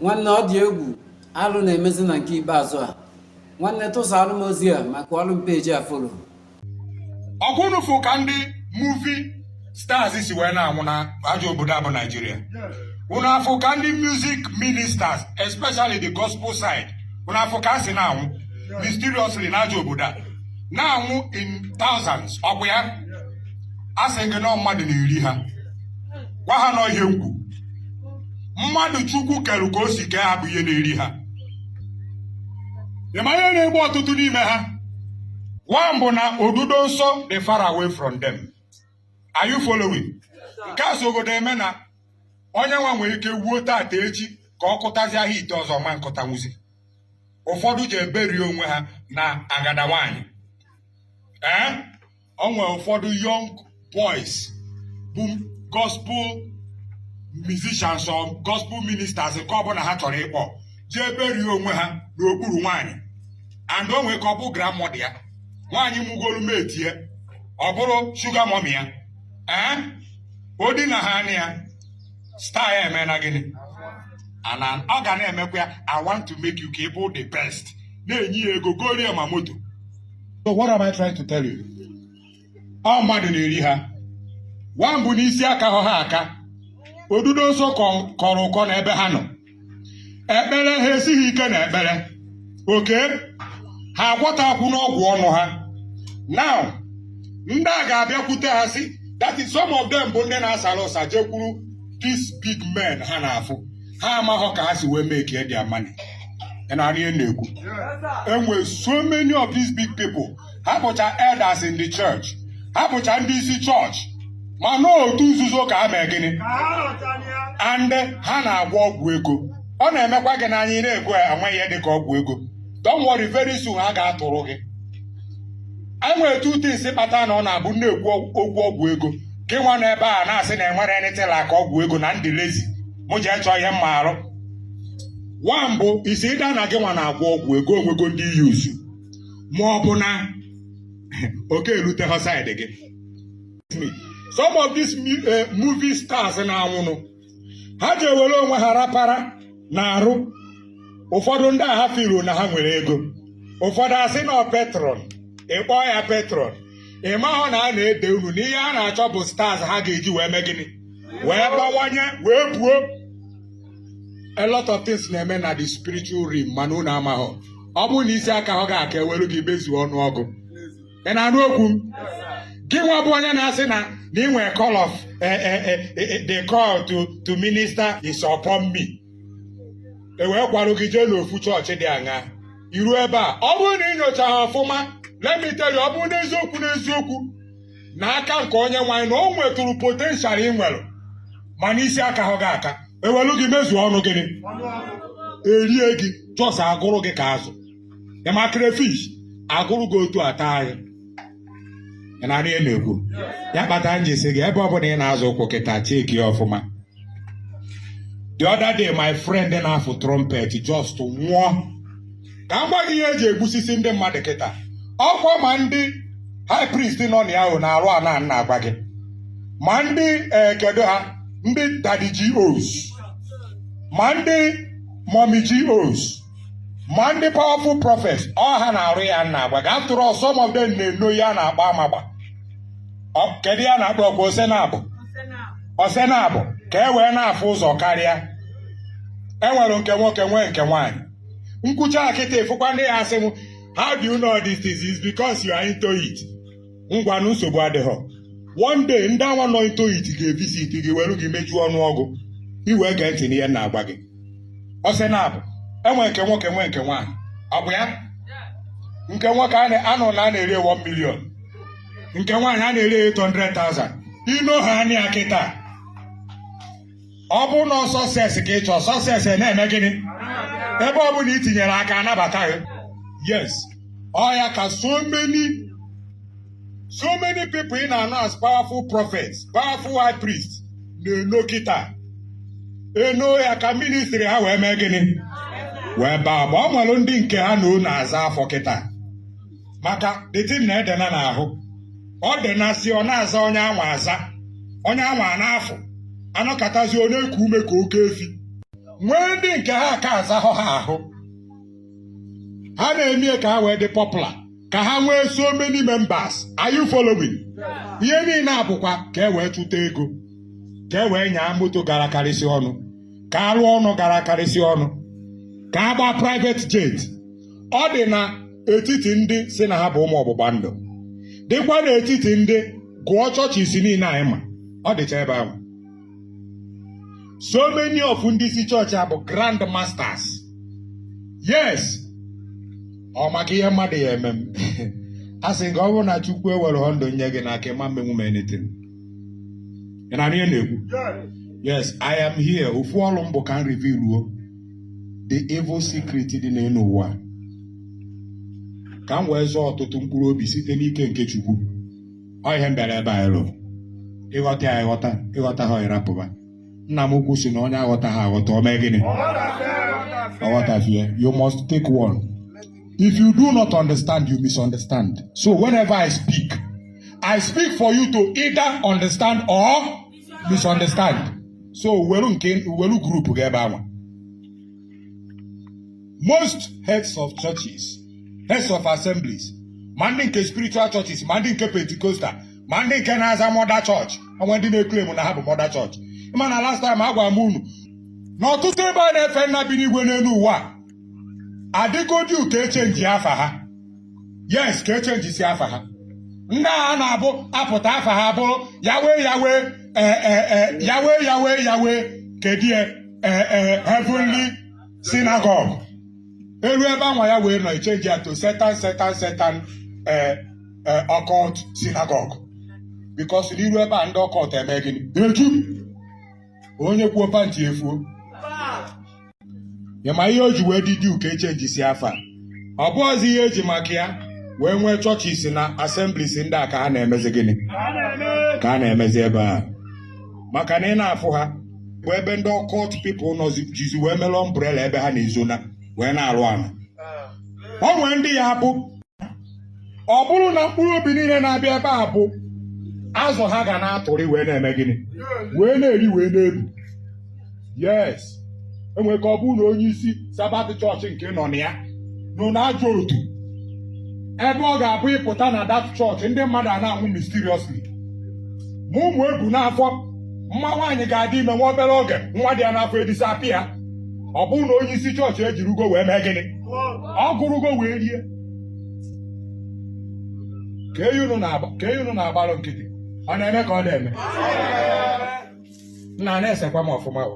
nwanne ọ dị egwu alụ na-emezi na nke ikpeazụ a nwanne tụsaalụ m ozi a ma kụọrụ m page a follow ọ kwa unu fụ ka ndị movie stars si wee na-anwụ na ajọ obodo a bụ naijiria unu afụ ka ndị music ministers especially the gospel side unu afụ ka a si na-anwụ mysteriously na ajọ obodo a na-anwụ in thousands ọ kwa ya a sị gị na ọ mmadụ na-eri ha gwa ha na ọ ihe mkpu mmadụ chukwu kerụ ka o si kee ha bụ ihe na-eri ha ị ma ihe na-egbu ọtụtụ n'ime ha one bụ na odudo nsọ dị far away from them are you following nke a sogodo eme na onye nwa nwere ike wuo tata echi ka ọ kụtazie ha ite ọzọ ma nkụta nwuzi ụfọdụ ji eberi onwe ha na agada nwaanyị ee o nwere ụfọdụ young boys bụ gospel musicians or gospel ministers nke ọbụla ha chọrọ ịkpọ ji eberi onwe ha n'okpuru nwaanyị and o nwee ka ọ bụ grandmother ya nwaanyị mụgolu metie ọ bụrụ sugar mummy ya ee o dina ha anaa ya star ya eme na gịnị and an- ọ ga na-emekwa ya i want to make you ka ị bụ the best na-enye ya ego gooro ya ma moto so what am I trying to tell you ọ mmadụ na-eri ha one bụ na isi akahọ ha aka odudo nsọ kọ- kọrọ ụkọ n'ebe ha nọ ekpere ha esighị ike na ekpere okay ha agwọtakwanụ ọgwụ ọnụ ha now ndị a ga-abịakwute ha sị that is some of them bụ ndị na-asara ụsa jekwuru these big men ha na-afụ ha amahọ ka ha si wee make e their money narị na-ekwu enwe so many of these big people ha bụcha elders in the church ha bụcha ndị isi chọọchị ma na otu nzuzo ka ha mee gịnị and ha na-agwọ ọgwụ ego ọ na-emekwa gị n'anya ị na-ekwu enwehọ ihe dị ka ọgwụ ego don't worry very soon ha ga-atụrụ gị enwere two things kpata na ọ na-abụ m na-ekwu okwu ọgwụ ego gị nwa na ebe a na-asị na enwerọ anything like ọgwụ ego na m dị lazy mụ jee chọọ ihe m ma arụ one bụ is either na gị nwa na-agwọ ọgwụ ego o nwego ndị i use ma ọ bụ na ọ ka erutehọ side gị some of these eh, movie stars na-anwụnụ ha ji ewere onwe ha rapara n'arụ ụfọdụ ndị a ha feel na ha nwere ego ụfọdụ a sị na ọ patron ị kpọọ ya patron ị mahọ na a na-ede unu na ihe a na-achọ bụ stars ha ga-eji wee mee gịnị wee bawanye wee buo a lot of things na-eme na the spiritual realm mana unu amahọ ọ bụrụ na isi akahọ gị aka ewere gị mezuo ọnụọgụ ị na-anụ okwu m gị nwa bụ onye na-asị na na ị nwere call of eh, eh, eh, the call to to minister is upon me ewee kwarụ gị jee n'ofu chọọchị dị aṅa iru ebe a ọ bụrụ na ị nyochahọ ọfụma let me tell you ọ bụrụ n'eziokwu n'eziokwu na aka nke onyenweanyị na o nwetụrụ potential ị nwere mana isi akahọ gị aka ewelu gị mezuo ọnụ gịnị erie gị just agụrụ gị ka azụ ị ma crayfish agụrụ gị otu ataa gị ị na-anụ ihe m na-ekwu ya kpata m ji sị gị ebe ọbụla ị na-azọ ụkwụ kịta cheki ya ọfụma the other day my friend na-afụ trumpet just nwụọ ka m gwa gị ihe eji egbusisi ndị mmadụ kịta ọkwa ma ndị high priest nọ na ya ahụ na-arụ ala m na-agwa gị ma ndị eh, kedu ha ndị daddy GOs ma ndị mommy GOs ma ndị powerful prophets ọ ha na-arụ ya m na-agwa gị after all some of them na-eno ihe a na-akpọ amagba kedu ihe a na-akpọ ọkwa ose naabọ ose naabọ ka e wee na-afụ ụzọ karịa enwere nke nwoke nwee nke nwaanyị m kwuchaa kịta ị fụkwa ndị ya-asị m how do you know these things is because you are into it ngwanụ nsogbu adịghọ one day ndị anwa nọ into it ga-evisit gị were gị mejuo ọnụ ọgụ i wee gee ntị n'ihe m na-agwa gị ose naabọ enwe nke nwoke nwee nke nwaanyị ọ bụ ya nke nwoke a na-anụ na a na-ere 1 million nke nwaanyị a na-ere 800,000 i noo ihe anwa kịta ọ bụrụ na success ka ị chọ success na-eme gịnị ebe ọ bụla itinyere aka anabata gị yes ọ ya ka so many so many people ị na-anụ as powerful prophets powerful high priest na-eno kịta eno ya ka ministry ha wee mee gịnị wee baa aba ọ nwere ndị nke ha na o na-aza afọ kịta maka the thing na-edena n'ahụ o denasị ọ na-aza onye anwa aza onye anwa n'afọ anọkatazị ọ na-eku ume ka oke efi nwee ndị nke ha aka azahọ ha ahụ ha na-eme ya ka ha wee dị popular ka ha nwee so many members are you following ihe niile a bụkwa ka e wee chụta ego ka e wee nyaa moto gara karịsị ọnụ ka arụ ụnọ gara karịsị ọnụ ka a gbaa private jet ọ dị na etiti ndị sị na ha bụ ụmụ ọgbụgba ndụ dịkwa n'etiti ndị gụọ churches niile anyị ma ọ dịcha ebe ahụ so many of ndị isi chọọchị a bụ grand masters yes ọ maka ihe mmadụ ya-eme m asị m gị ọ bụrụ na chukwu ewerọ ndụ nye gị n'aka ị ma-emenwu m anything ị na-anụ ihe m na-ekwu yes i am here ofu ọrụ m bụ ka m revealuo the evil secret dị n'elu ụwa ka m wee zọọ ọtụtụ mkpụrụ obi site n'ike nke Chukwu ọ ihe m bịara ebe a ịlụ ị ghọta ya ị ghọta ị ghọtaha ị rapụba nna m ukwu sị na onye aghọtaha aghọta o mee gịnị ọ ghọtafie you must take one if you do not understand you misunderstand so whenever I speak I speak for you to either understand or misunderstand so were nke were group gị ebe anwa most heads of churches heads of assemblies ma ndị nke spiritual churches ma ndị nke pentecostal ma ndị nke na-aza mother church o nwee ndị na-eclaim na ha bụ mother church ị ma na last time agwara m unu na ọtụtụ ebe a na-efe nna bi n'igwe n'elu ụwa adịgo due ka e chenji afa ha yes ka e chenjisi afa ha ndị a na-abụ a pụta afa ha bụrụ Yahweh Yahweh eh, eh, eh, Yahweh Yahweh Yahweh kedie heavenly synagogue e lu ebe anwa Yahweh nọ e chenji ya to Satan Satan Satan occult synagogue because na i ru ebe a ndị occult eme gịnị eju onye kwuo pantị efuo ị ma ihe o ji wee dị due ka e chenjisi afa ọ bụhọzị ihe e ji maka ya wee nwee churches na assemblies ndị a ka ha na-emezi gịnị ka a na-emezi ebe a maka na ị na-afụ ha bụ ebe ndị occult people nọ jizi wee melụ umbrella ebe ha na-ezona wee na-arụ ala o nwee ndị ya-abụ ọ bụrụ na mkpụrụ obi niile na-abịa ebe a bụ azụ ha ga na-atụrị wee na-eme gịnị wee na-eri wee na-ebu yes e nwere ka ọ bụrụ na onye isi Sabbath church nke nọ na ya nọ na ajọ otu ebe ọ ga-abụ ị pụta na that church ndị mmadụ a na-anwụ mysteriously ma ụmụ e bu n'afọ ma nwaanyị ga-adị ime nwa obere oge nwa dị ya n'afọ edisapịa ọ bụrụ na onye isi chọọchị ejirugo wee mee gịnị ọ gụrụgo wee rie ka eyi unu na-agba ka eyi unu na-agbalụ nkịtị ọ na-eme ka ọ na-eme nna a na-esekwa m ọfụma o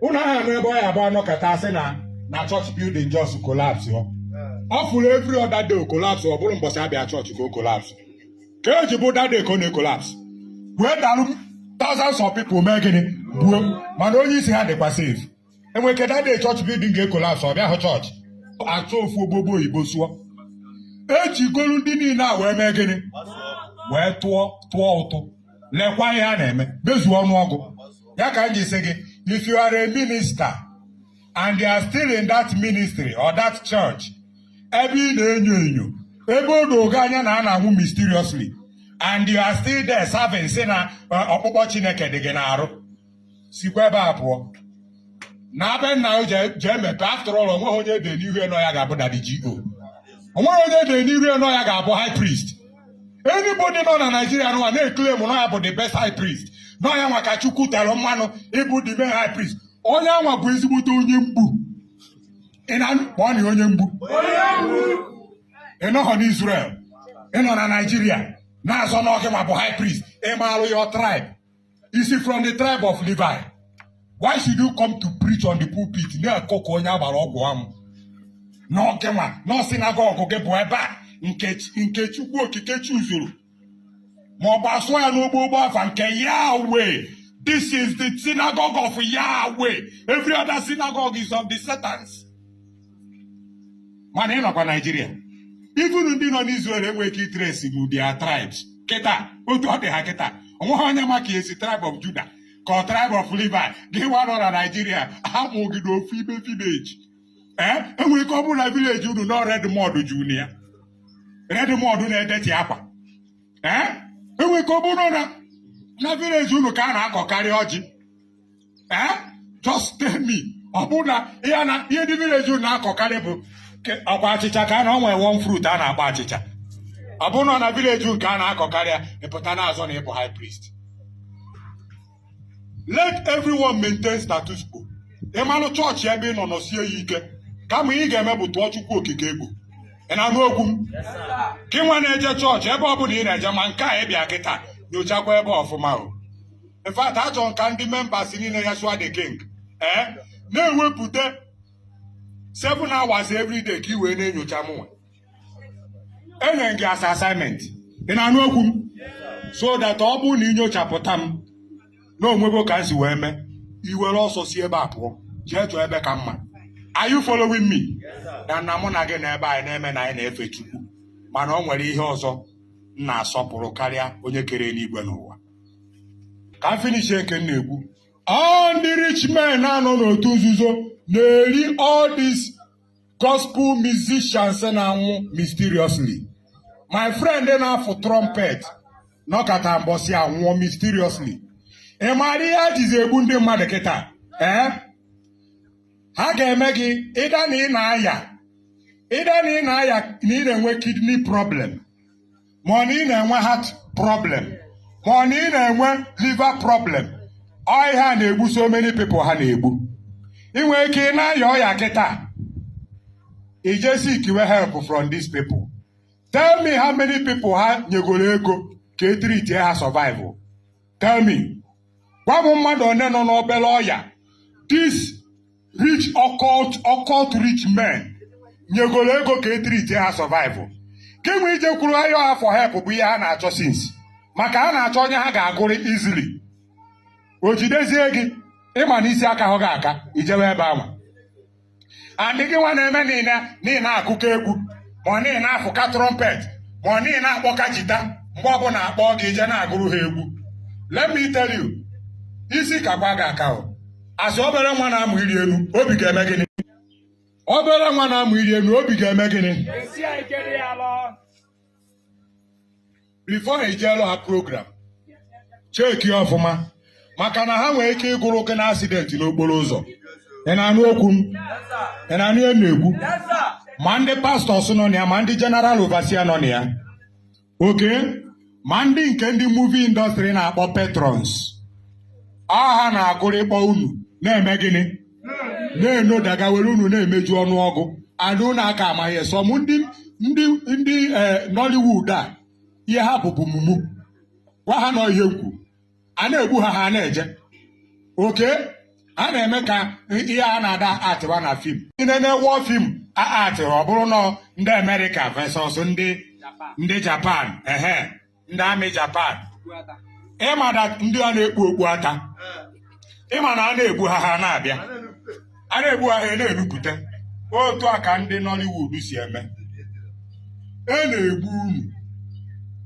unu aha anụ ebe ọ ya-abụ a nọkata a sị na na church building just collapse ọ ọ fụrọ every other day collapse ọ bụrụ mbọsị a bịa church ka ọ collapse ka eji bụ that day ka ọ na-ecollapse wee dalụ thousands of people mee gịnị gbuo mana onye isi ha dịkwa safe enwere ike that day chọọchị building ga-ecollapse ọ bịa hụ chọọchị achọọ ofu ogbogbo oyibo sụọ ejikọlụ ndị niile a wee mee gịnị wee tụọ tụọ ụtụ lekwa ihe a na-eme mezuo ọnụọgụ ya ka m ji sị gị if you are a minister and you are still in that ministry or that church ebe ị na-enyo enyo ebe o dogo anya na a na-anwụ mysteriously and you are still there serving sị na uh, ọkpụkpọ Chineke dị gị n'arụ sikwa ebe a pụọ na be nna o jee mepe after all onweghị onye ede n'ihu ya na ọ ya ga-abụ daddy GO onweghị onye ede n'ihu ya na ọ ya ga-abụ high priest anybody nọ na Naijiria nwa na-eklem na ọ ya bụ the best high priest na ọ ya nwa ka Chukwu tere mmanụ ịbụ the best high priest onye anwa bụ ezigbote onye mgbu ị na-anụ kpọọ na onye mgbu ị nọghọ n'Israel ị nọ na Naijiria na-azọ na ọ gị nwa bụ high priest ị maalụ your tribe i si from the tribe of Levi why should you come to preach on the pulpit na-akọ ka onye a gbara ọgwụ amụ na ọ gị nwa na ọ synagogue gị bụ ebe a nke chukwu okike chuzuru ma ọ bụ asụọ ya n'ogbogbo afa nke Yahweh this is the synagogue of Yahweh every other synagogue is of the Satans mana ị nọkwa naijiria even ndị nọ n'Israel enweghị ike itresinwu their tribes kịta otu ọ dị ha kịta onweghị onye ma ka esi tribe of Judah ka ọ tribe of Levi gị nwa nọ na naijiria a mụ gị n'ofu ime vileji ee eh? enwere ike ọ bụrụ na vileji unu nọ red mud juru ya red mud na-edeti akwa ee eh? enwere ike ọ bụrụ na vileji unu ka a na-akọkarị ọjị ee just tell me ọ bụrụ na ihe na ihe ndị vileji unu na-akọkarị bụ ke- ọkwa achịcha ka a na o nwe one fruit a na-akpọ achịcha ọ bụrụ na ọ na vileji unu ka a na-akọkarị ya ị pụta na-azọ na ị bụ high priest let everyone maintain status quo ị malụ chọọchị ebe ị nọ nọsie ya ike kama ihe ị ga-eme bụ tụọ chukwu okike egwu ị na-anụ okwu m gị nwa na-eje chọọchị ebe ọ bụla ị na-eje ma nke a ị bịa kịta nyochakwa ebe ọfụma o in fact achọrọ m ka ndị members niile Yahshua the king ee eh? na-ewepụta 7 hours every day ka ị wee na-enyocha mụnwa enye m gị as assignment ị na-anụ okwu m so that ọ bụrụ na i nyochapụta m na o nwego ka m si wee mee i were ọsọ si ebe a pụọ jee chọọ ebe ka mma are you following me na nna mụ na gị na ebe anyị na-eme na anyị na-efe Chukwu mana o nwere ihe ọzọ m na-asọpụrụ karịa onye kere enigwe na ụwa ka m finish nke m na-ekwu all ndị rich men na-anọ n'otu nzuzo na-eri all these gospel musicians na-anwụ mysteriously my friend na-afụ trumpet nọkata mbọsị anwụọ mysteriously ị maara ihe a jizi egbu ndị mmadụ kịta ee ha ga-eme gị ịda na ị na-aya ịda na ị na-aya na ị na-enwe kidney problem ma ọ na ị na-enwe heart problem ma ọ na ị na-enwe liver problem ọ ihe a na-egbu so many people ha na-egbu ị nwere ike ị na-aya ọya kịta i je seekwe help from these people tell me how many people ha nyegoro ego ka e treatie ha survive tell me gwa m mmadụ one nọ n'obere ọya these rich occult occult rich men nyegoro ego ka e treatie ha survival gị nwa ijekwuru ha nwa for help bụ ihe ha na-achọ since maka ha na-achọ onye ha ga-agụrụ easily o jidezie gị ị ma na isi akahụ gị aka i jewe ebe ahụ and gị nwa na-eme na ị na na ị na-akụka egwu ma ọ na ị na-afụka trumpet ma ọ na ị na-akpọka jita mgbe ọbụla a kpọọ gị i je na-agụrụ ha egwu let me tell you isi kakwa gị aka o a sị obere nwa na-amụ ịrị elu obi ga-eme gịnị obere nwa na-amụ ịrị elu obi ga-eme gịnị before i jeelu ha program checkie ọfụma maka na ha nwere ike ịgụrụ gị na accident n'okporo ụzọ ị na-anụ okwu m ị na-anụ ihe m na-ekwu ma ndị pastors nọ na ya ma ndị general overseer nọ na ya okay ma ndị nke ndị movie industry na-akpọ patrons ọ ha na-agụrịkpọ unu na-eme gịnị na-enodaga were unu na-emeju ọnụọgụ and unu aka amaghị ihe some ndị ndị ndị eh, Nollywood a ihe ha bụ bụ mumu gwa ha na ọ ihe m kwu a na-egbu ha ha na-eje okay a na-eme ka ihe a na-ada atịwa na fim ndị na-ewe fim a atịrị ọ bụrụ na ọ ndị America versus ndị ndị Japan ehe ndị army Japan ị ma na ndị a na-ekpu okpu ata ị ma na a na-egbu ha ha na-abịa a na-egbu ha ha na-enupụta otu a ka ndị Nollywood si eme a na-egbu unu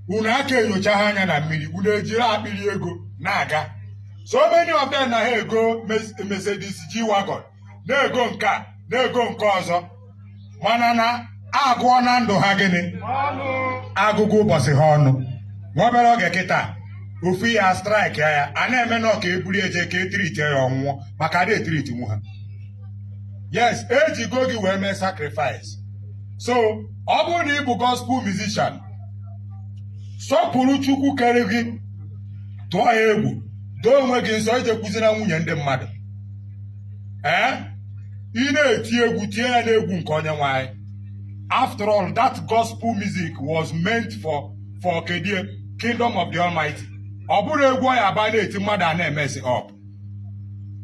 unu aka enyocha ha anya na mmiri unu ejiri akpịrị ego na-aga so many of them na ha ego Mercedes G-Wagon na-ego nke a na-ego nke ọzọ mana na a gụọna ndụ ha gịnị a gụgo ụbọchị ha ọnụ nwa obere oge kịta ofu ọya strike ya a na-eme na a ka ebuli eje ka e treat ya ọ nwụọ maka a da e-treat nwu ha yes e jigo gị wee mee sacrifice so ọ bụrụ na ị bụ gospel musician sọpụrụ Chukwu kere gị tụọ ya egwu doo onwe gị nsọ ejekwuzina nwunye ndị mmadụ ee ị na-eti egwu tie ya n'egwu nke Onyenweanyị after all that gospel music was meant for for kedie kingdom of the almighty ọ bụrọ egwu ọ ya-abụ a na-eti mmadụ a na-emess up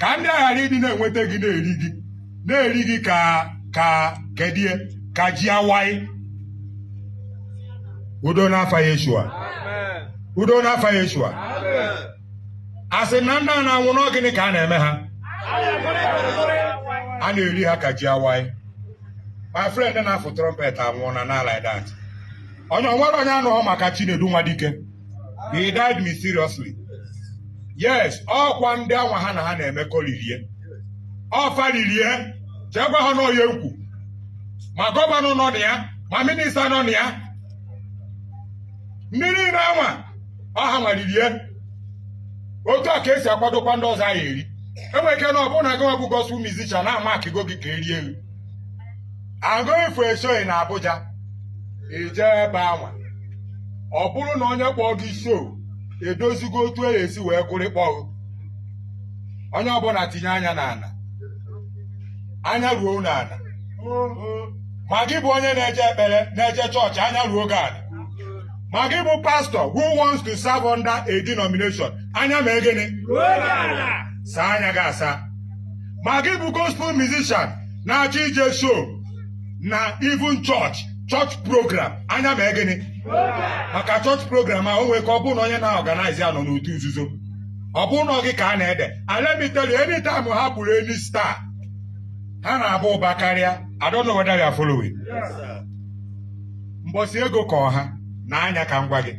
ka ndị a ghara ịdị na-enweta gị na-eri gị na-eri gị ka ka kedie ka ji awaị udo n'afa yeshua udo n'afa yeshua a sị na ndị a na-anwụ na ọ gịnị ka a na-eme ha a na-eri ha ka ji awaị my friend na-afụ trumpet anwụọna na like that onye o nwere onye anụghọ maka Chinedu Nwadike he died mysteriously yes ọ kwa ndị anwa ha na ha na-emekọ riri ya ọ fa riri ya jee gwa ha na ọ ihe m kwu ma gọvanọ nọ na ya ma minista nọ na ya ndị niile anwa ọ hanwa riri ya otu a ka e si akwadokwa ndị ọzọ a ya-eri e nwere ike na ọ bụrụ na gịnwa bụ gospel musician na a makịgo gị ka e rie ghụ I'm going for a show in Abuja i jee ebe anwa ọ bụrụ na onye kpọrọ gị show edozigo otu e esi wee kụrikpọọ onye ọbụla tinye anya n'ala anya ruo n'ala ma gị bụ onye na-eje ekpere na-eje chọọchị anya ruo gị ala ma gị bụ pastor who wants to serve under a denomination anya mee gịnị saa anya gị asa ma gị bụ gospel musician na-achọ ije show na even church church program anya mee gịnị maka church program a o nwee ike ọ bụrụ na onye na-organize ya nọ n'otu nzuzo ọ bụrụ na ọ gị ka a na-eje eri immediately anytime ha gburu any star ha na-aba ụba karịa I don't know whether you are following. mbọsị ego kọrọ ha na anya ka m gwa gị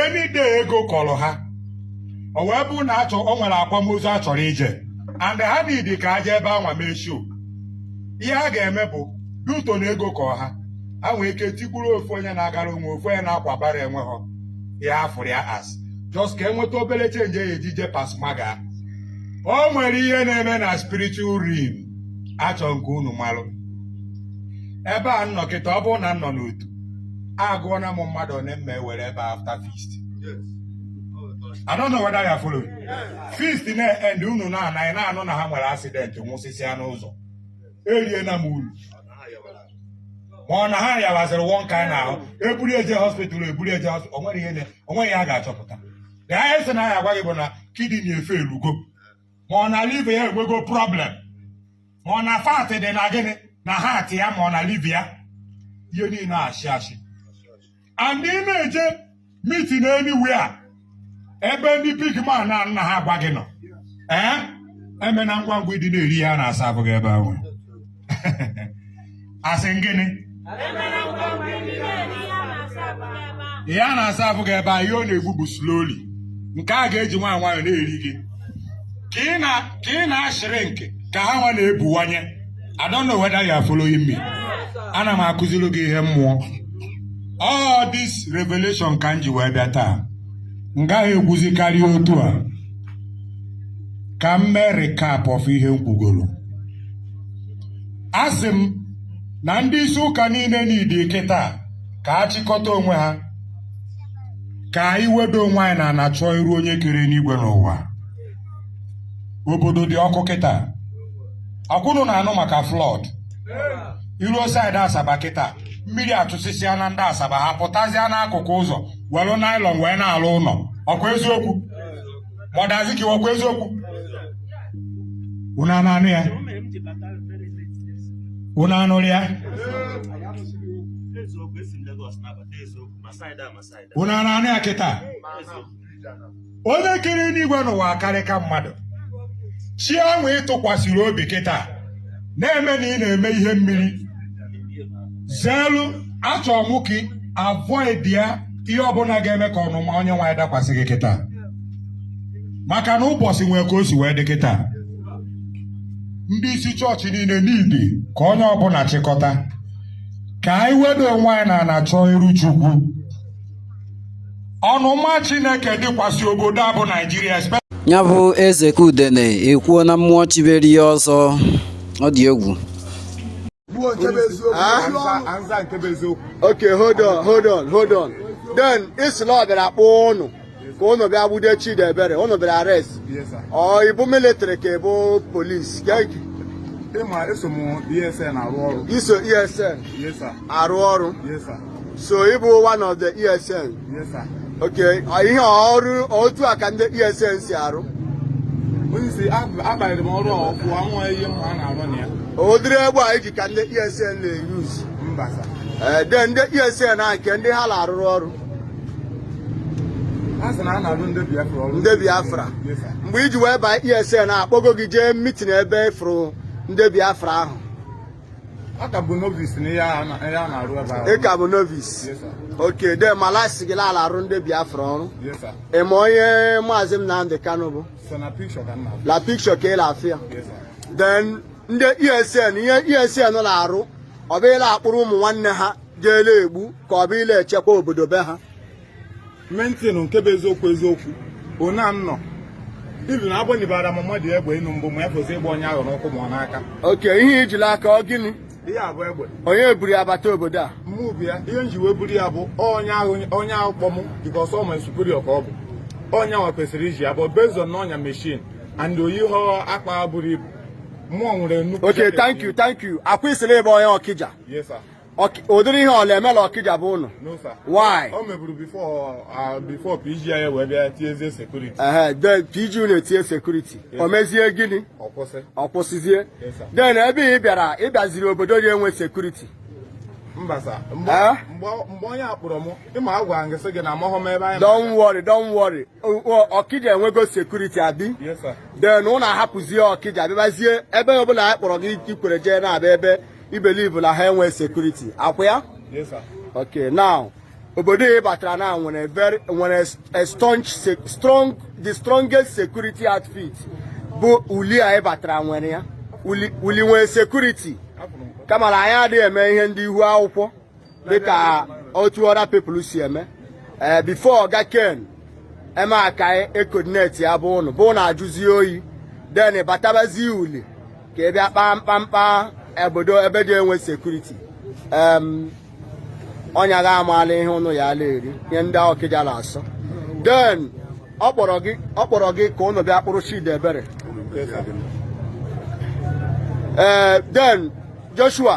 any day ego kọrọ ha o wee bụrụ na a chọ o nwere akwamozu a chọrọ ije and ha need ka e jee ebe anwa mee show ihe ha ga-eme bụ due to na ego kọ ha ha nwee ike tigburu ofu onye na-agara onwe ofu onye na-akwa bara onwe ha ihe a fụrụ ya as just ka e nweta obere change ya e ji eje pasmaga o nwere ihe na-eme na spiritual realm achọ m ka unu malụ ebe a nọ kịta ọ bụrụ na m nọ n'otu agụọ na m mmadụ one m ma-ewere ebe a after feast I don't know whether you are following. Feast na-end unu na anaghị na-anụ na ha nwere accident nwụsịsịa n'ụzọ erie na m uru ma ọ na ha yawaziri one kind ahụ eburu eje hospital o nweghị ihe a ga-achọpụta the highest na a ya-agwa gị bụ na kidney efeelugo ma ọ na liver ya enwego problem ma ọ na fat dị na gịnị na heart ya ma ọ na liver ya ihe niile ashị ashị and ị na-eje meeting anywhere ebe ndị big man na nna ha gwa gị nọ ee emena ngwa ngwa ịdị na-eri ya na-asa abụghị ebe ahụ asị gịnị ihe a na-asa afụ gị ebe a ihe ọ na-egbu bụ slowly nke a ga-eji nwayọ nwayọ na-eri gị ka ị na- ka ị na-ashrink ka ha nwa na-ebuwanye I don't know whether you are following me ana m akụziri gị ihe mmụọ all this revelation ka m ji wee bịa taa m gaghị ekwuzi karịa otu a ka m mee recap of ihe m kwugoro asị m na ndị isi ụka niile needi kịta ka ha chịkọta onwe ha ka anyị wedo onwe anyị n'ana chọọ iru onye kere enigwe n'ụwa obodo dị ọkụ kịta ọkwa unu na-anụ maka flood i ruo side Asaba kịta mmiri atụsịsịa na ndị Asaba ha pụtazịa n'akụkụ ụzọ were nylon wee na-alụ ụnọ ọkwa eziokwu ma ọ dazi ka ọkwa eziokwu unu anụ ya unu anụrụ ya unu anụ ya kịta onye kere enigwe n'ụwa akarịka mmadụ chi ahụ ị tụkwasịrị obi kịta na-eme na ị na-eme ihe mmeri zeelu achọ mụ ka ị avoid ya ihe ọbụla ga-eme ka ọnụma onye nwe anyị dakwasị gị kịta maka na ụbọchị nwee ka o si wee dị kịta ndị isi chọọchị niile needi ka onye ọbụla chịkọta ka anyị wedo onwe anyị n'ana chọọ iru Chukwu ọnụma Chineke dịkwasị obodo a bụ Naijiria ya bụ eze ka udene ekwuo na mmụọ chiberi ya ọzọ ọ dị egwu okay hold on hold on hold on then i si na ọ bịara kpọọ ụnụ ka ụnụ bịa gbude Chidiebere ụnụ bịara arrest ọ ị bụ military ka ị bụ police ịma eso m ESN arụ ọrụ i so ESN arụ ọrụ so ị bụ one of the ESN yes sir okay ihe ọrụ otu a ka ndị ESN si arụ onye si abanyere m ọrụ ọkụ anwụ ihe mma a na-arụ na ya ụdịrị egbe a ị ji ka ndị ESN na-eyuz mba sir ee eh, then ndị ESN a nke ndị ha na-arụrụ ọrụ ndị Biafra mgbe ị ji wee baa ESN akpọgo gị jee meeting ebe ị fụrụ ndị Biafra ahụ A ka m bụ novice na ihe a na- ihe a na-arụ ebe ahụ. ị ka bụ novice Yes, sir. okay then mala a sị gị la a la-arụ ndị Biafra ọrụ Yes, sir. ị ma onye maazị Nnamdi Kanu bụ So na picture ka m na-afụ. la picture ka ị na-afụ ya Yes, sir. then ndị ESN ihe ESN na-arụ ọ bụ ịla-akpụrụ ụmụ nwanne ha jee la-egbu ka ọ bụ ịla-echekwa obodo be ha mentin nke bụ eziokwu eziokwu ona nnọ even na agbanyebara m mmadụ egbe n'enu mbụ ma ya fọzi ịgba onye ahụ n'ụkwụ ma ọ n'aka okay ihe ị ji la aka ọ gịnị ihe a bụ egbe onye buru ya bata obodo a mụ bụ ya ihe nji wee buru ya bụ onye ahụ onye ahụ kpọ mụ because ọ my superior ka ọ bụ onye ahụ kwesịrị iji ya bụ based on ọ nya machine and o yihọ akpa buru ibu mụ nwere nnukwu okay thank you thank you akwa ị sịrị ị bụ onye Ọkịja yes sir ụdịrị ihe ọ la-eme la Ọkịja be ụnụ why o meburu before PG anyị wee bịa tiezie security PG unu etinye security o mezie gịnị ọ kwụsịzie then ebe ị bịara ị bịaziri obodo dị enwe security mba sir mgbe onye akpọrọ m ịma agwa gị sị gị na amaghọ m ebe anyị don't worry don't worry Ọkịja enwego security abi then ụnụ ahapụzie Ọkịja bịabazie ebe ọbụla anyị kpọrọ gị i kwere jee na-abịa ebe I believe na ha enwe security akwa ya okay now obodo ị batara na nwere very nwere a strong strong the strongest security outfit bụ Uli a ị batara nwere ya Uli nwere security kama na anyị adịghị eme ihe ndị ihu akwụkwọ dịka otu other people si eme ee eh, before ọga Ken eme aka e-coordinate ya be ụnụ bụ na ajụzie oyi then batabazie Uli ka ị bịa kpaa mkpamkpa obodo ebe dị enwe security onye ga-amala ihe ụnụ ya ala eri ihe ndị Ọkịja na-asọ then ọ kpọrọ gị ọ kpọrọ gị ka ụnụ bịa kpụrụ Chidiebere ee eh, then Joshua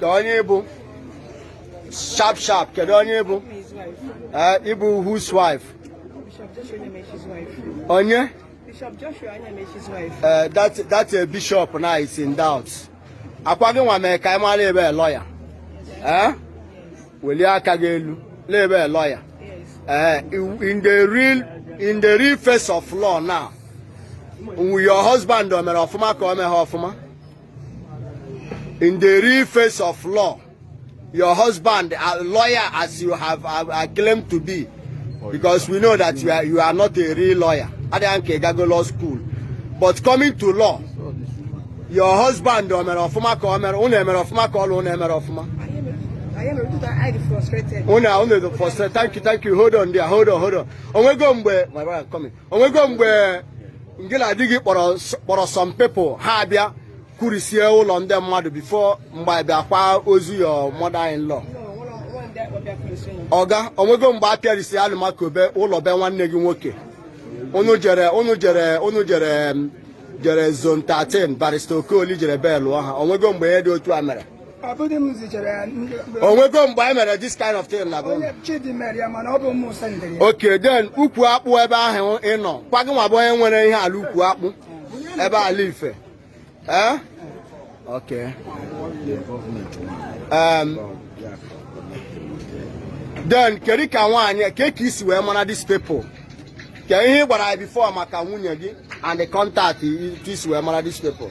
kaa onye ị bụ sharp sharp kedu onye ị bụ eh, ị bụ whose wife onye Bishop Joshua Anyamechi's wife. Uh, that that uh, bishop now is in doubt. Akwa gị nwa mee ka ị mara ị bụ lawyer. Eh? Welie aka gị elu. La ị bụ lawyer. Eh, in the real in the real face of law now. Your husband o mere ọfụma ka o meghị ọfụma. in the real face of law your husband a lawyer as you have uh, claimed to be oh, because we know that you are, you are not a real lawyer adịghị nke gago law school but coming to law your husband o mere ọfụma ka o mere unu emere ọfụma ka ọlụ unu emere ọfụma unu unu frustrated thank you thank you hold on there hold on hold on onwego mgbe my brother coming onwego mgbe ngị na di gị kpọrọ some people ha abịa kụrisie ụlọ ndị mmadụ before mgbe abịa kwa ozu your mother in law ọga onwego mgbe a pịarisi Alumaco be ụlọ be nwanne gị nwoke unu jere zone 13 barrister Okoli jere bailụọ ha onwego mgbe ihe dị otu a mere onwego mgbe anyị mere this kind of thing na okay then ukwu akpụ ebe ahụ ị nọ kwa gị nwa bụ onye nwere ihe ala ukwu akpụ ebe ala ife eh? okay um, then kedu ka nwaanyị ka ka i si wee mara these people ka ihe ị gwara ya before maka nwunye gị and the contact i si wee mara these people